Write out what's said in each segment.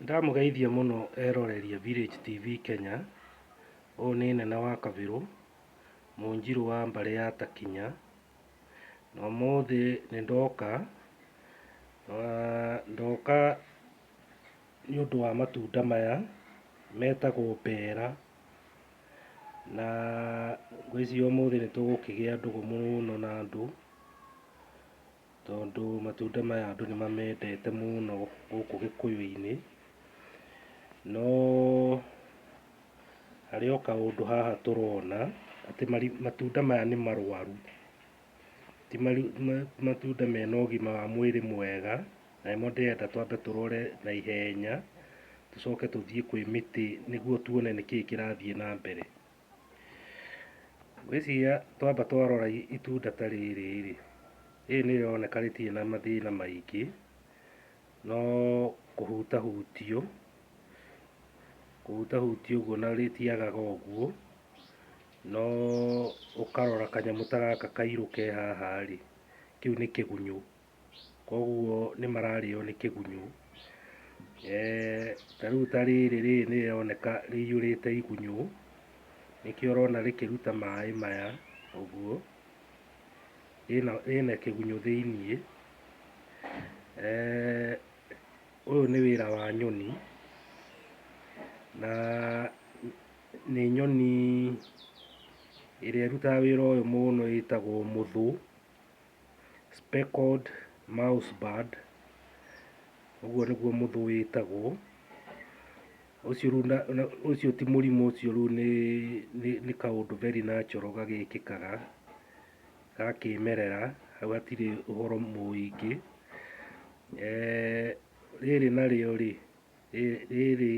Ndamũgeithia mũno eroreri a Village TV Kenya, ũyũ nĩ Nene wa Kabirũ, Mũnjirũ wa mbarĩ ya Takinya, na ũmũthĩ nĩ ndoka, ndoka nĩ ũndũ wa matunda maya metagwo mbera, na ngwĩciria ũmũthĩ nĩ tũgũkĩgĩa ndũgũ mũno na andũ. Tondũ matunda maya andũ nĩ mamendete mũno gũkũ gĩkũyũ-inĩ, no harĩ o kaũndũ haha tũrona atĩ matunda maya nĩ marwaru, ti matunda mena ũgima wa mwĩrĩ mwega, na nĩmo ndĩrenda twambe tũrore na ihenya, tũcoke tũthiĩ kwĩ mĩtĩ nĩguo tuone nĩkĩĩ kĩrathiĩ na mbere. Ngwĩciria twamba twarora itunda ta rĩrĩ rĩ, rĩrĩ nĩ rĩroneka rĩtirĩ na mathĩna maingĩ, no kũhutahutio, kũhutahutio ũguo na rĩtiagaga ũguo, no ũkarora kanyamũ ta gaka kairũ ke haha rĩ, kĩu nĩ kĩgunyũ koguo nĩ mararĩo nĩ kĩgunyũ. Ta rĩu ta rĩrĩ, rĩrĩ nĩ rĩroneka rĩihũrĩte igunyũ, nĩkĩo ũrona rĩkĩruta maĩ maya ũguo, rĩna kĩgunyũ thĩiniĩ. Ũyũ nĩ wĩra wa nyoni, na nĩ nyoni ĩrĩa ĩrutaga wĩra ũyũ mũno ĩtagwo mũthũ. speckled mouse bird, ũguo nĩguo mũthũ wĩtagwo, ũcio rĩu na na ũcio ti mũrimũ ũcio rĩu nĩ nĩ nĩ kaũndũ very natural gagĩkĩkaga ga kĩmerera, hau hatirĩ ũhoro mũingĩ. Rĩrĩ narĩo rĩ, rĩrĩ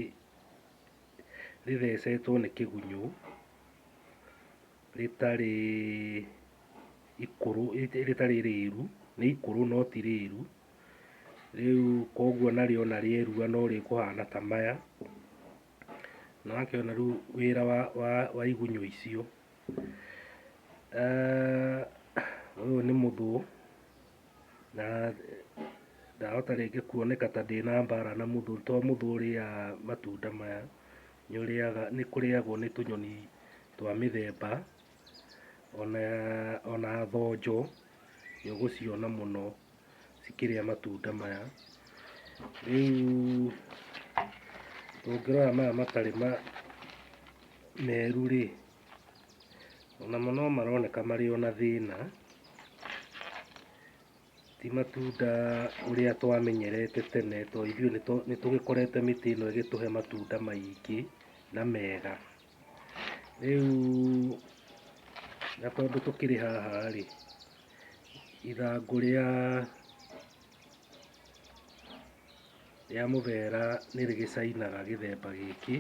rĩthecetwo nĩ kĩgunyũ. rĩtarĩ ikũrũ rĩtarĩ rĩru, nĩ ikũrũ no ti rĩru, rĩu koguo narĩo ona rĩerua no rĩkũhana ta maya, nĩ wakĩona rĩu wĩra wa wa wa igunyũ icio. Ũyũ nĩ mũthũũ na ndahota rĩngĩ kuoneka ta ndĩna mbara na mũthũũ to mũthũũ ũrĩaga matunda maya, nĩ ũrĩaga nĩ kũrĩagwo nĩ tũnyoni twa mĩthemba ona ona thonjo nĩ ũgũciona mũno cikĩrĩa matunda maya. Rĩu ũngĩrora maya matarĩ ma meru rĩ, onamo no maroneka marĩ ona thĩna, ti matunda ũrĩa twamenyerete tene tondũ ithuĩ nĩ tũgĩkorete mĩtĩ ĩno ĩgĩtũhe matunda maingĩ na mega. Rĩu na tondũ tũkĩrĩ haha rĩ, ithangũ rĩa rĩa mũbera nĩ rĩgĩcainaga gĩthemba gĩkĩ,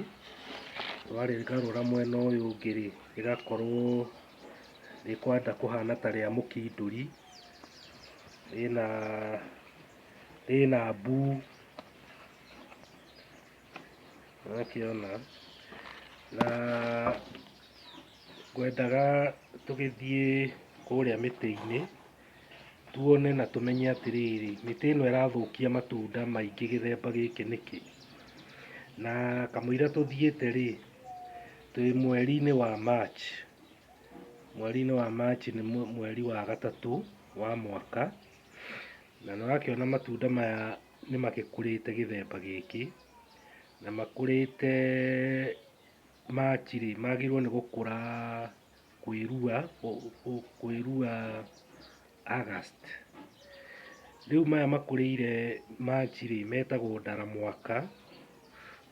warĩgarũra mwena ũyũ ũngĩ rĩ, rĩgakorwo rĩkwenda kũhana ta rĩa mũkindũri, rĩna rĩna mbuu. ũgakĩona na ngwendaga tũgĩthiĩ kũrĩa mĩtĩ-inĩ tuone na tũmenye atĩrĩrĩ mĩtĩ ĩno ĩrathũkia matunda maingĩ gĩthemba gĩkĩ nĩkĩ, na kamũira tũthiĩte rĩ twĩ mweri-inĩ wa March, mweri-inĩ wa March nĩ mweri wa gatatũ wa mwaka na nĩ ũrakĩona matunda maya nĩ magĩkũrĩte gĩthemba gĩkĩ, na makũrĩte match rĩ, magĩrĩirwo nĩ gũkũra kwĩrua, kwĩrua August. Rĩu maya makũrĩire match rĩ, metagwo ndaramwaka.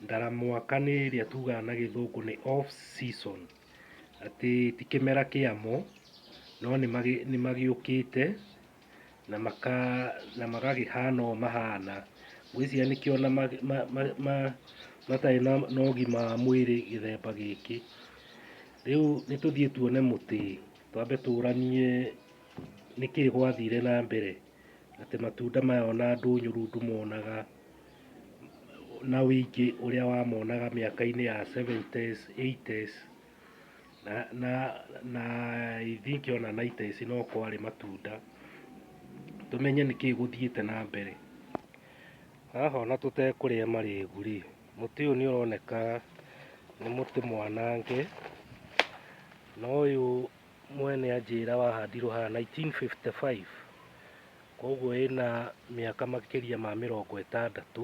Ndaramwaka nĩ ĩrĩa tugaga na gĩthũngũ nĩ off season, atĩ ti kĩmera kĩamo, no nĩ magĩũkĩte na maka na magagĩhana ũũ mahana ngwĩciria nĩkĩo na ma, ma, ma, ma, matarĩ na, na ũgima wa mwĩrĩ gĩthemba gĩkĩ rĩu nĩ tũthiĩ tuone mũtĩ twambe tũranie nĩkĩ gwathire na mbere atĩ matunda maya ona ndũnyũru ndũmonaga na ũingĩ ũrĩa wamonaga mĩaka-inĩ ya 70s, 80s na na na I think ona naita ici no kwarĩ matunda tũmenye nĩkĩĩ gũthiĩte na mbere haha ona tũtekũrĩa marĩgu rĩ mũtĩ ũyũ nĩ ũroneka nĩ mũtĩ mwanange na ũyũ mwene anjĩra wahandirwo haha 1955 koguo wĩna mĩaka makĩria ma mĩrongo ĩtandatũ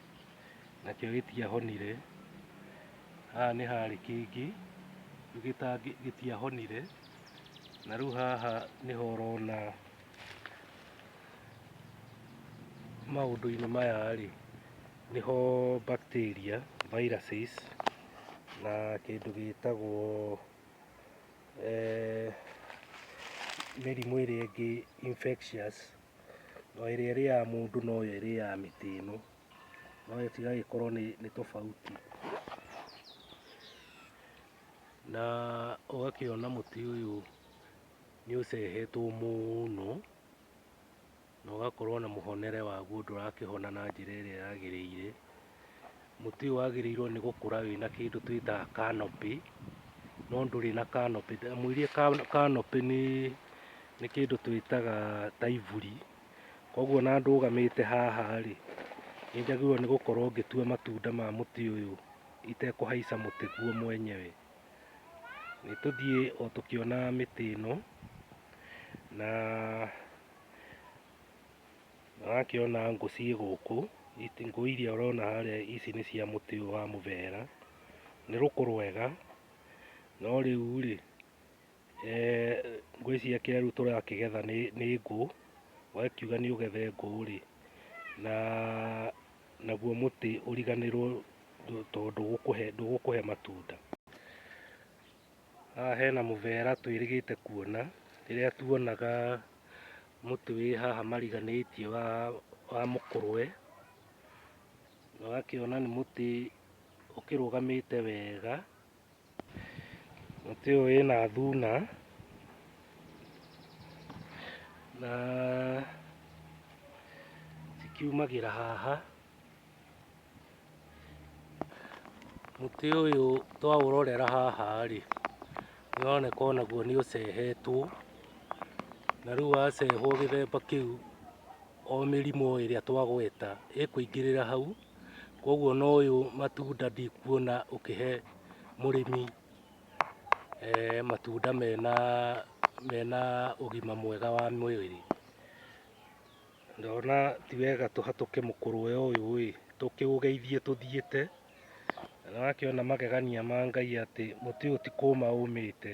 nakĩo gĩtiahonire. Haha nĩ harĩ kĩngĩ gĩtiahonire, na rĩu haha nĩho ũrona maũndũ-inĩ maya rĩ, nĩho bacteria, viruses na kĩndũ gĩtagwo mĩrimũ ĩrĩa ĩngĩ infectious. no ĩrĩa ĩrĩaga mũndũ noyo ĩrĩaga mĩtĩ ĩno, no ĩgagĩkorwo nĩ tofauti. Na ũgakĩona mũtĩ ũyũ nĩ ũcehetwo mũno na ũgakorwo na mũhonere waguo ndũrakĩhona na njĩra ĩrĩa yagĩrĩire. Mũtĩ ũyũ wagĩrĩirwo nĩ gũkũra wĩna kĩndũ twĩtaga canopy, no ndũrĩ na canopy. Ndamwĩrire canopy nĩ nĩ kĩndũ twĩtaga ta iburi. Koguo ona ndũgamĩte haha rĩ, nĩ njagĩrĩirwo nĩ gũkorwo ngĩtua matunda ma mũtĩ ũyũ itekũhaica mũtĩ guo mwenyewe. Nĩ tũthiĩ o tũkĩonaga mĩtĩ ĩno, na... Ũrakĩona ngũ ciĩ gũkũ, ngũ iria ũrona harĩa ici nĩ cia mũtĩ ũyũ wa mũbera, nĩ rũkũ rwega, no rĩu rĩ, ngwĩciria kĩrĩa rĩu tũrakĩgetha nĩ nĩ ngũ, wakiuga nĩ ũgethe ngũ rĩ, na naguo mũtĩ ũriganĩrwo tondũ ndũgũkũhe ndũgũkũhe matunda. Haha hena mũbera twĩrĩgĩte kuona rĩrĩa tuonaga mũtĩ wĩ haha mariganĩtie wa, wa mũkũrwe na ũgakĩona nĩ mũtĩ ũkĩrũgamĩte wega. Mũtĩ ũyũ wĩna thuna na cikiumagĩra haha. Mũtĩ ũyũ twaũrorera haha rĩ, nĩ ũroneka onaguo nĩ ũcehetwo, na rĩu wacehwo gĩthemba kĩu o mĩrimũ ĩrĩa twagweta ĩkũingĩrĩra hau, koguo ona ũyũ matunda ndikuona ũkĩhe mũrĩmi matunda mena ũgima mwega wa mwĩrĩ. Ndona ti wega tũhatũke mũkũrũwe ũyũ ĩ tũkĩũgeithie tũthiĩte na wakĩona magegania ma Ngai atĩ mũtĩ ũyũ ti kũũma ũmĩte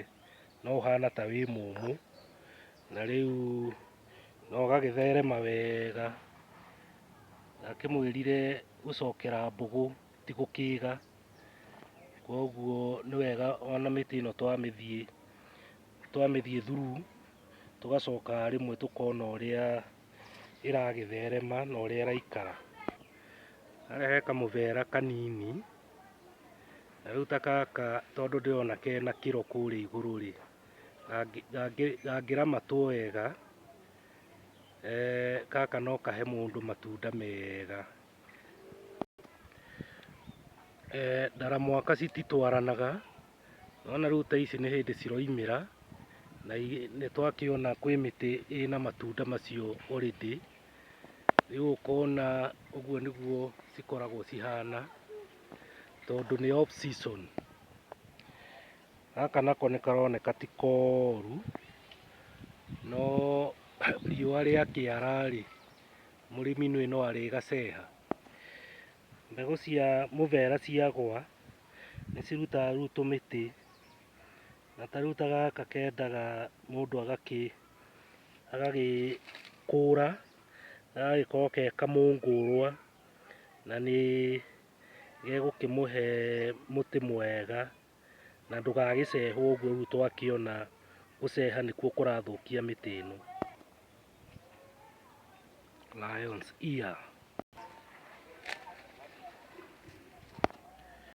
no ũhana ta wĩ mũmũ na rĩu na ũgagĩtherema wega. Ndakĩmwĩrire gũcokera mbũgũ ti gũkĩga, koguo nĩ wega ona mĩtĩ ĩno twamĩthiĩ. twamĩthiĩ through tũgacoka rĩmwe tũkona ũrĩa ĩragĩtherema na ũrĩa ĩraikara. Harĩa he kamũbera kanini, na rĩu ta gaka tondũ ndĩrona kena kĩro kũrĩa igũrũ rĩ, gangĩramatwo wega eh, gaka no kahe mũndũ matunda mega. Eh, ndaramwaka cititwaranaga Nĩwona rĩu ta ici nĩ hĩndĩ ciroimĩra na nĩ twakĩona kwĩ mĩtĩ ĩna matunda macio already. Rĩu ũkona ũguo nĩguo cikoragwo cihana tondũ nĩ off season. Gaka nako nĩ karoneka ti koru no riũa rĩakĩara rĩ mũrĩmi nĩũĩ no arĩgaceha. Mbegũ cia mũbera ciagwa nĩ cirutaga rĩu tũmĩtĩ na ta rĩu ta gaka kendaga mũndũ agakĩ agagĩkũra gagagĩkorwo ge kamũngũrwa na nĩ gegũkĩmũhe mũtĩ mwega. na ndũgagĩcehwo ũguo rĩu twakĩona gũceha nĩkuo kũrathũkia mĩtĩ ĩno. Lions ear.